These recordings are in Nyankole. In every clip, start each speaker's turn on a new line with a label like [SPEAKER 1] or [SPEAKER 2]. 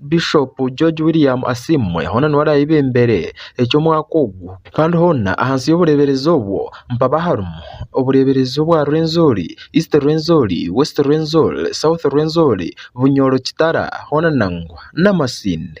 [SPEAKER 1] Bishop George William Asiimwe hoona niwe arabebembere eky'omwaka ogu kandi hoona ahansi y'obureberezi obwo mpaabe aharimu obureberezi obwa Rwenzori, East Rwenzori, West Rwenzori, South Rwenzori, Bunyoro, Kitara hoona nangwa n'amasinde.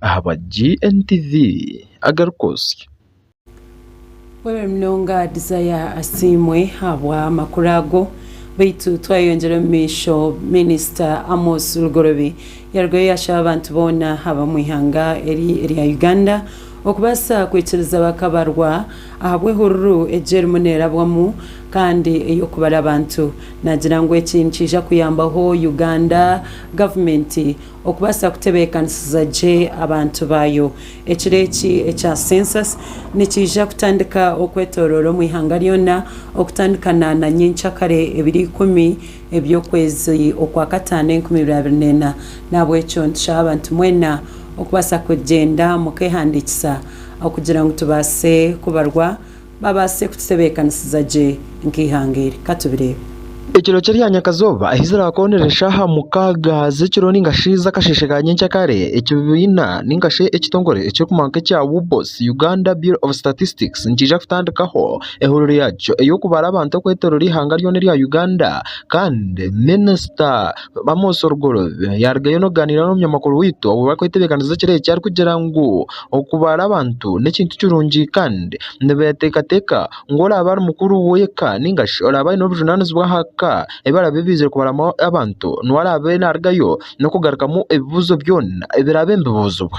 [SPEAKER 1] ahaba GNTV agarikwotsya.
[SPEAKER 2] Weebare munonga Desire Asiimwe ahabw'amakuru ago. Beitu twayeyongyera omu maisho, Minisita Amos Lugorobi yarugayo yashaba abantu boona ab'omu ihanga eri erya Uganda okubaasa kwikiriza bakabarwa ahabw'ehururu egi erimu neerabwamu kandi ey'okubara abantu naagira ngu eki nikiija kuyambaho Uganda Gavumenti Okubaasa kutebeekanisiza gye abantu baayo, ekiro eki ekya Census nikiija kutandika okwetooroora omu ihanga ryona okutandika na na nyenkya kare ebiro ikumi eby'okwezi okwa kataano enkumi ibiri abiri neena. N'ahabw'ekyo nitushaba abantu mwena okubaasa kugyenda mukeehandiikisa okugira ngu tubaase kubarwa Babaase kututebeekanisiza gye nk'eihanga eri. Ka tubireebe. Ekiro kye rya
[SPEAKER 1] nyakazooba, ahi ziraakoonera eshaaha mukaaga z'ekiro nainga shi z'akasheeshe ka nyenkya kare, ekibiina nainga shi ekitongore ekirikumanywa nk'ekya UBOS, Uganda Bureau of Statistics, nikiija kutandikaho ehururu yaakyo ey'okubara abantu okwetooroora eihanga ryona erya Uganda. Kandi Minisita Amos Rugorobi yaarugayo n'okugaaniira n'omunyamakuru waitu obu barikwetebekaniza ekiro eki arikugira ngu, Okubaara abantu n'ekintu kirungi kandi nibeeteekateeka ngu oraabe ari mukuru w'eka nainga shi oraabe aine obujunaanizibwa aha ka ebi araabe abaizire kubaariramu abantu niwe araabe naarugayo n'okugarukamu ebibuuzo byona ebiraabe nibibuuzibwa.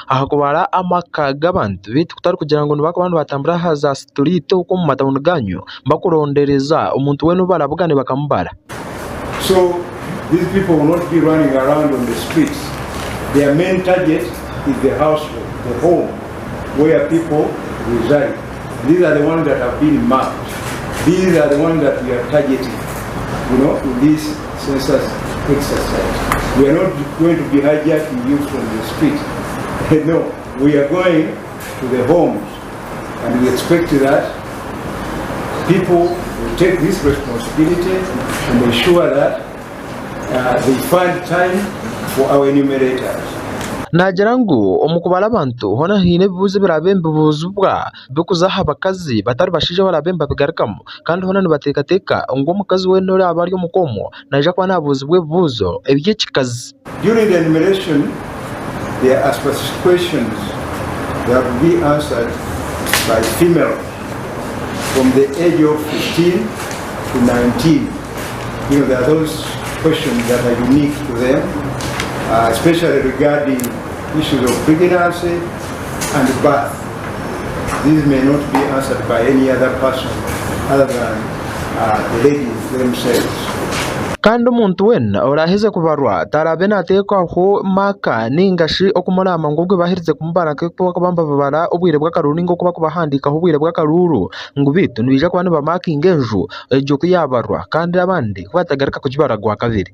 [SPEAKER 1] aha kubara amaka g'abantu baitu kutari kugira ngu nibakuba nibatambura aha za situriiti okwo omu matauni gaanyu bakurondereza omuntu weena ou barabugaane bakamubara.
[SPEAKER 3] Naagira
[SPEAKER 1] ngu omu kubara abantu hoona haine ebibuuzo ebiraabe nibibuuzibwa. bikuza aha bakazi batari bashaija baraabe nibabigarukamu kandi boona nibateekateeka ngu omukazi weena oraabe ari omuka omwo naija kuba naabuuzibwa ebibuuzo eby'ekikazi. During the enumeration
[SPEAKER 3] there are specific questions that will be answered by female from the age of 15 to 19. You know, there are those questions that are unique to them, uh, especially regarding issues of pregnancy and birth. Kandi
[SPEAKER 1] omuntu weena oraaheze kubarwa taraabe naateekwaho maaka nainga shi okumuraama ngu obwe baaherize kumubara nk'oku barikuba nibabara obwire bw'akaruuru nainga oku barikubahandiikaho obwire bw'akaruuru ngu beitu nibaija kuba nibamaakinga enju egyo ku yaabarwa kandi abandi ku batagaruka kugibara gwa kabiri.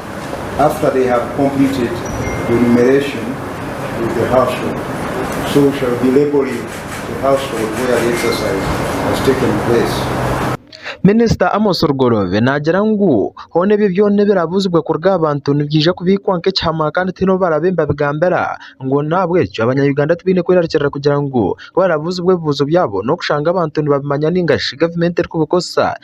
[SPEAKER 3] after they have completed enumeration with the household so we shall be labelling the household where the exercise has taken place. Minisita
[SPEAKER 1] Amos Rugorobe naagira ngu hoona ebyo byona ebirabuuzibwe kuruga aha bantu nibyija kubiikwa nk'ekihama kandi tihaine ou baraabe nibabigambira ngu n'ahabw'ekyo Abanya-Uganda tibaine kwerarikirira kugira ngu ku barabuuzibwa ebibuuzo byabo n'okushanga abantu nibabimanya nainga shi gavumenti erikubikozesa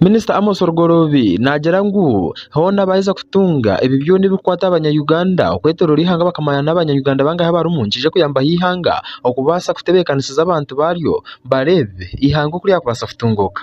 [SPEAKER 3] Minisita Amos
[SPEAKER 1] Rugoloobi naagira ngu hoona baaheza kutunga ebyo byona ebirikukwata abanya-Uganda okwetooroora eihanga bakamanya n'abanya-Uganda bangahi abarimu nikiija kuyambaho eihanga okubaasa kutebeekanisiza abantu baaryo bareebe eihanga oku ryakubaasa kutunguuka.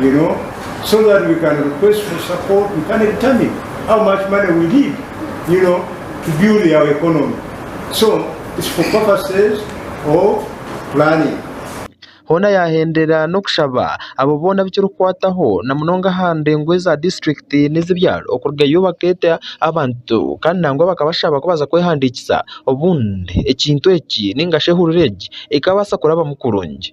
[SPEAKER 3] you know so that we can request for support we can determine how much money we need you know to build our economy so it's for purposes of planning Hoona
[SPEAKER 1] yaahenderera n'okushaba abo boona abu kirikwataho na munonga aha ndengo eza district n'ez'ebyaro okurugayo bakeeta abantu kandi nangwa bakabashaba kubaza kwehandiikisa obundi ekintu eki ningashi ehurura egi ekabaasa kurabamu kurungi.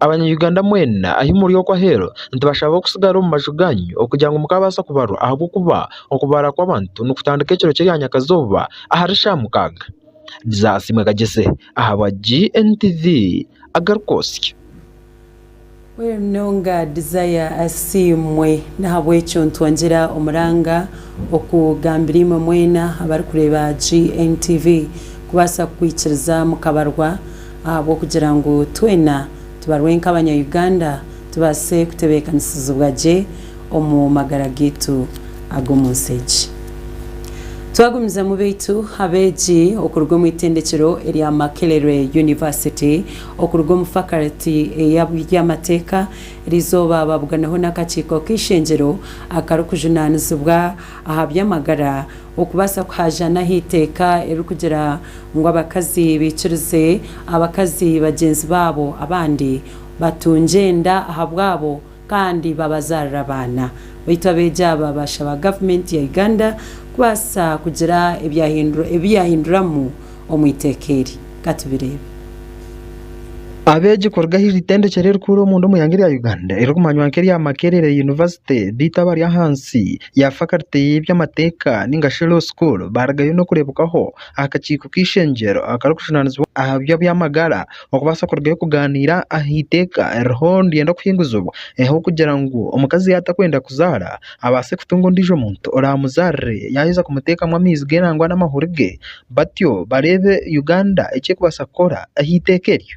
[SPEAKER 4] Abanya Uganda
[SPEAKER 1] mwena ahi muri okwo aheeru nitubashaba okusigara omu maju gaanyu okugira ngu mukabaasa kubarwa ahabw'okuba okubaara kw'abantu nikutandika ekiro ky'eryanyakazooba ahari shaamukaaga. Bizasiimwe Kagyese ahabwa GNTV agarikwotsya.
[SPEAKER 2] Wera munonga Desire asiimwe nahabwekyo nitwongyera omuranga okugambira imwe mwena abarikureeba GNTV kubaasa kukwikiriza mukabarwa ahabw'okugira ngu twena tubarwe nk'abanya Uganda tubaase kutebeekanisizibwa gye omu magara gaitu ag'omu nsi egi. Twagumizamu baitu abeegi okuruga omu itendekero erya Makerere University, okuruga omu faculty ey'eby'amateeka erizooba baabuganaho n'akakiiko k'eishengyero akarikujunaanizibwa aha by'amagara okubaasa kuhaajaana aha iteeka eririkugira ngu abakazi baikirize abakazi bagyenzi baabo abandi batungye enda ahabwabo kandi babazaarira abaana. Baitu abeegi aba baashaba gavumenti ya Uganda kubaasa kugira ebi yaahinduramu omu iteeka eri. Ka tubireebe.
[SPEAKER 1] Abeegi kuruga ahari itendekero erikuru omunda omu ihanga rya Uganda eririkumanywa nk'erya Makerere University beitu abari ahansi ya faculty y'eby'amateeka nainga shi Law School baarugayo n'okureebwaho aha kakiiko k'eishengyero akarikujunaanizibwa aha by'eby'amagara. okubaasa kurugayo kugaaniira aha iteeka eririho niryenda kuhinguzibwa kugira ngu omukazi yaaba atarikwenda kuzaara abaase kutunga ondiijo muntu oraamuzaarire yaaheza kumuteekamu amaizi ge nangwa n'amahuri ge batyo bareebe Uganda eki erikubaasa kukora aha iteeka eryo.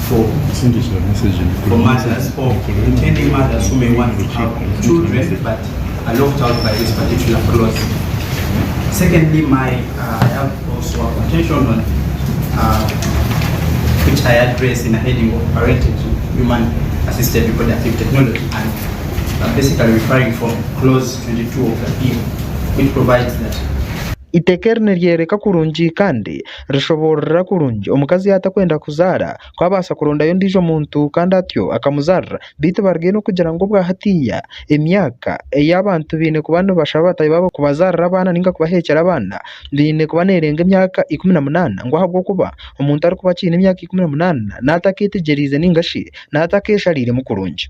[SPEAKER 5] Eiteeka eri niryoreka
[SPEAKER 1] kurungi kandi Rishoboorora kurungi, omukazi yaatakwenda kuzaara, ku abaasa kurondayo ondiijo muntu kandi atyo akamuzaarira, beitu baruge n'okugira ngu obwa hatiiya emyaka ei abantu baine kuba nibashaba bataahi baabo kubazaarira abaana nainga kubaheekyera abaana eine kuba neerenga emyaka ikumi na munaana ngu ahabw'okuba omuntu arikuba akiine emyaka ikumi na munaana naaba atakeetegyereize nainga shi naaba atakeeshariiremu kurungi.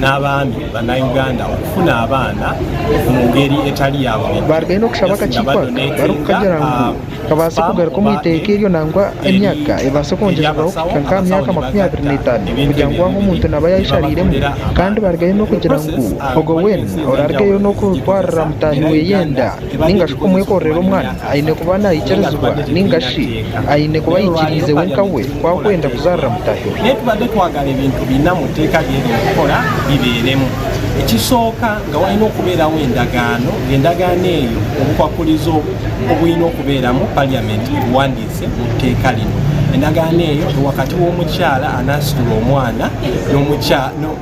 [SPEAKER 6] n'abandi banauganda okufuna abaana omu ngeri etari ya buryeryo. Baarugayo n'okushaba akakiiko
[SPEAKER 1] aka barikukagira ngu kabaase kugaruka omu iteeka eryo nangwa emyaka ebaase kwongyezibwaho kuhika nk'aha myaka makumi abiri n'etaano kugira ngu aho omuntu naaba yaayeshareiremu kandi baarugayo n'okugira ngu ogwo weena oraarugeyo n'okutwarira mutahi we enda. ninga shi kumwekorera omwana aine kuba naikirizibwa ninga shi aine kuba ayikiriize wenka we ku akwenda kuzaarira mutaahi we? Reero tubade twagara ebintu
[SPEAKER 6] bina omu teeka rye ry'okukora biberemu. Ekisooka, nga waine okuberaho endagaano, nga endagaano eyo obukwakulizo obu eine okuberamu parliament ebuwandiise omu teeka linu. Endagaano eyo ni wakati w'omukyala anasitula omwana n'omukya no.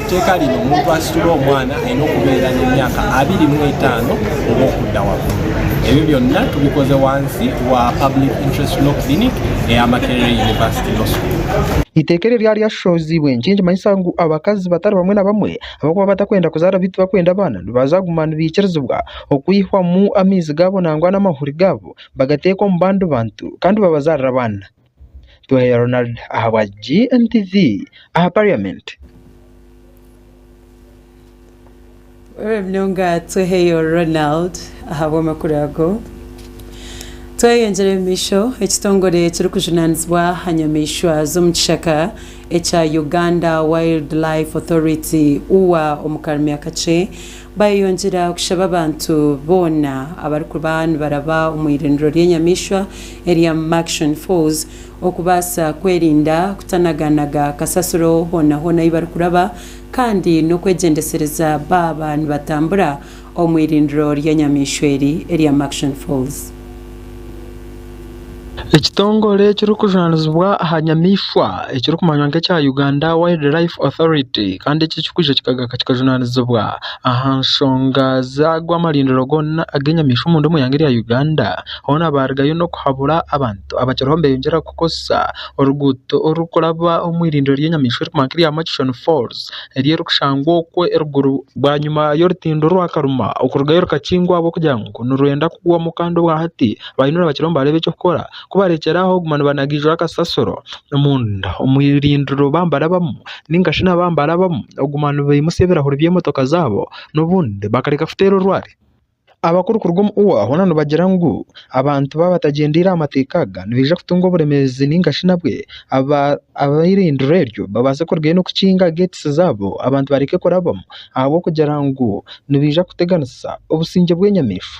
[SPEAKER 6] Eiteeka riri omuntu asitula omwana aine okubeera n'emyaka abiri mu etaano oba okunda waakuru. Ebyo byonna tubikoze wansi wa Public Interest Law Clinic eya Makerere University Law School. Eiteeka eryo ryaba
[SPEAKER 1] ryashohoziibwe, niki nikimanyisa ngu abakazi batari bamwe na bamwe abarikuba batakwenda kuzaara beitu bakwenda abaana nibaza kuguma nibaikirizibwa okwihwamu amaizi gaabo nangwa n'amahuri gaabo bagateeka omu bandi bantu kandi babazaarira abaana? Twahire Ronald ahabwa GNTV aha parliament.
[SPEAKER 2] Orore munonga Tweheyo Ronald ahabw'amakuru ago. Tweyongyere omumaisho, ekitongore ekirikujunanizibwa aha nyamaishwa z'omu kishaka ekya Uganda Wildlife Authority, ua, omu Karumyakakye, Baayeyongyera kushaba abantu boona abarikuba nibaraba omu iriniro ry'enyamaishwa erya Murchison Falls okubaasa kwerinda kutanaganaga kasasiro hoona hoona ahu barikuraba kandi n'okwegyendesereza baaba nibatambura omu iriniro ry'enyamaishwa eri erya Murchison Falls.
[SPEAKER 1] Ekitongore ekirikujunanizibwa aha nyamaishwa ekirikumanywa nka ekya Uganda wild life authority Kandi eki ekikwija kikagaruka kikajunanizibwa aha nshonga zaago amarindiro goona ag'enyamaishwa omuri omu ihanga erya Uganda hoona barigayo n'okuhabura abantu abakiriho nibeyongyera kukoresa oruguuto orurikuraba omu irindiro ry'enyamaishwa eriri kumanywa nka erya Murchison falls eri erikushangwa okwo eruguru bwanyima y'orutindo orwa karuma okurugayo rukakingwa ahabw'okugira ngu nirwenda kugwamu Kandi obwa hati Baine orubakira omu bareeba eky'okukora. Ku barekyera aho guma nibanagiijura akasasiro. Omunda omu irindiro ba nibarabamu nainga shi naba nibarabamu oguma nibaimutsya ebirahuri by'emotoka zaabo n'obundi bakareka kuteera orwari. Abakuru kuruga omu ua hoona nibagira ngu abantu ba batagyendeire aha mateeka aga nibaija kutunga oburemeezi nainga shi nabwe aba ab'eirindiro eryo babaase kurugayo n'okukinga gates zaabo abantu bareke kurabamu ahabw'okugira ngu nibaija kuteganisa obusingye bw'enyamaishwa.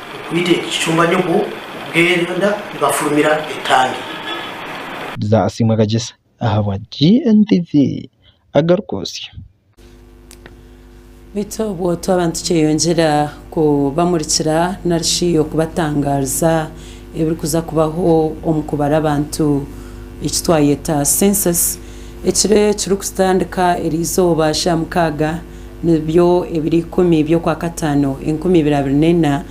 [SPEAKER 7] Okwita ekicumba nyogo bweranda nibafurumira etangi. Bza
[SPEAKER 1] asiimwe kagyesa ahabwa GNTV agaru kwotsya.
[SPEAKER 2] Beitu obwo twaba nitukyeyongyera kubamurikira nari shi okubatangaariza ebirikuza kubaho omu kubara abantu eki twayeta Census ekiro ekirikutandika eri izooba ry'aha mukaaga, Nibyo ebiro ikumi by'okwakataano enkumi ibiri abiri n'ena,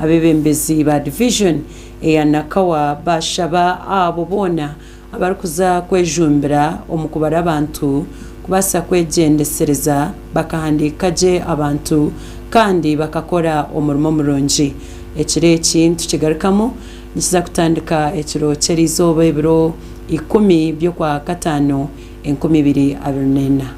[SPEAKER 2] abeebembezi ba Division eya Nakawa baashaba abo boona abarikuza kwejumbira omu kubara abantu kubaasa kwegyendesereza bakahandiika gye abantu kandi bakakora omurimo murungi. Ekiro eki nitukigarukamu nikiza kutandika ekiro ky'erizooba ebiro ikumi by'okwakataano enkumi ibiri abiri n'ena.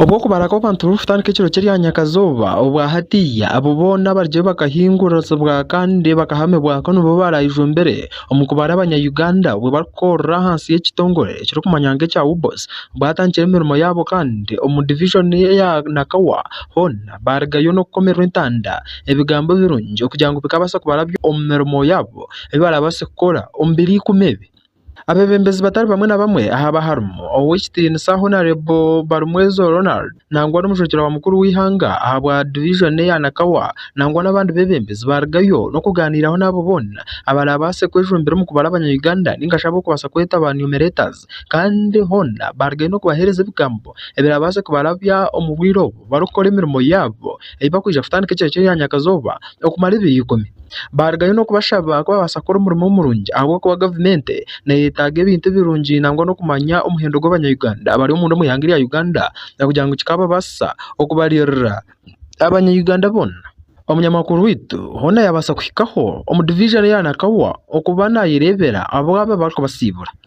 [SPEAKER 1] Obwo okubara kw'abantu burikutandika ekiro ky'eryanyakazooba obwa hatiiya, abo boona abaryeyo bakahinguurutsibwa kandi bakahamibwako nibo baaraijumbire omu kubara abanya-Uganda obwo barikukorera ahansi y'ekitongore ekirikumanywa nk'ekya UBOS baatandikire emirimo yaabo kandi omu divijoni eya Nakawa hoona baarugayo n'okukomererwa entanda ebigambo birungi kugira ngu bikaabaasa kubaraabya omu mirimo yaabo ei baraabaase kukora omu biro ikumi ebi. Abeebembezi batari bamwe na bamwe ahaaba harimu Ow'ekitiinisa Honarebo Barumwezo Ronald nangwa n'omushwekye wa mukuru w'eihanga ahabwa Divijoni eya Nakawa nangwa n'abandi beebembezi baarugayo n'okugaaniiraho n'abo boona abaraabaase kwejumbira omu kubara Abanya-Uganda nainga shi ab'okubaasa kweta ba numeretors kandi hoona baarugayo n'okubaheereza ebigambo ebiraabaase kubarabya omu bwire obwo. barikukora emirimo yaabo ei barikwija kutandika ekiro ky'erya nyakazooba okumara ebiro ikumi. Baarugayo n'okubashaba kubabaasa kukora omurimo murungi ahabw'okuba gavumenti neeyetaaga ebintu birungi nangwa n'okumanya omuhendo gw'Abanya-Uganda abari omunda omu ihanga erya Uganda kugira ngu kikaababaasisa okubaririra Abanya-Uganda boona. Omunyamakuru waitu hoona yaabaasa kuhikaho omu diviizoni ya Nakawa okuba naayereebera abo aba barikubasiibura.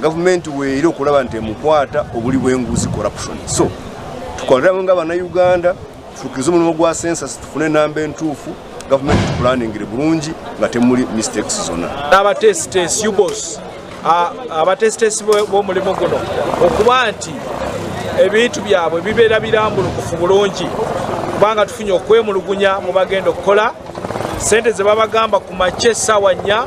[SPEAKER 8] Gavumenti weire okuraba nti emukwata oburi bw'enguzi, corruption. So tukorere hamwe nga abana Uganda tushukirize omurimo gwa census tufune enamba entuufu gavumenti etupulaningire burungi nga temuri mistakes zona. N'abateesiteesi, UBOS,
[SPEAKER 9] abateesiteesi b'omurimo guno okuba nti ebintu byabwe bibeera biramburukufu burungi kubanga tufunye okwemulugunya mubagenda okukora sente zebabagamba kumakya esaawa nya.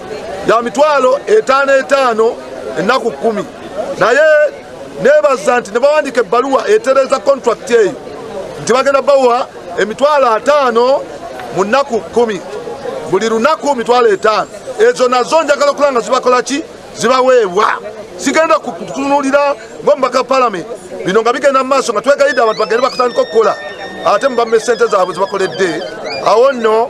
[SPEAKER 10] ya mitwaro etaano etaano enaku kumi. Naye nebaza nti nibawandiika ebaruwa etereza contract eyo nti bagenda bawa emitwaro ataano munaku kumi buri runaku mitwaro etaano ezo nazo njagala kuranga zibakoraki zibawebwa sigenda kutunurira ngu omubaka wa parliament bino nga bigenda mu maso nga twegaide abantu bagende bakutandika okukora ate mubame sente zabwe zibakoredde awo no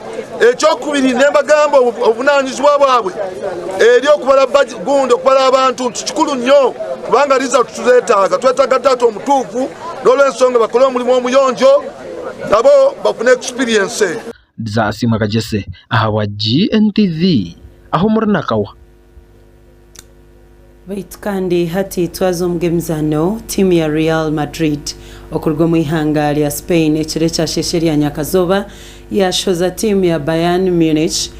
[SPEAKER 10] Eky'okubiri, nimbagamba obu obunaanizibwa bwabwe eri oku baraba gundi oku baraba bantu nti kikuru nyo kubanga ariza kuturetaaga. Twetaaga Taata omutuufu n'olw'ensonga bakore omurimo omuyonjo nabo bafune experience. Bzasiimwe
[SPEAKER 1] Kagyese ahabwa GNTV. Aho muri nakawa?
[SPEAKER 2] Baitu kandi hati twaza omu g'emizaano, tiimu ya Real Madrid okuruga omu ihanga rya Spain ekiro ekyasheshe rya nyakazooba yaashohoza tiimu ya Bayern Munich,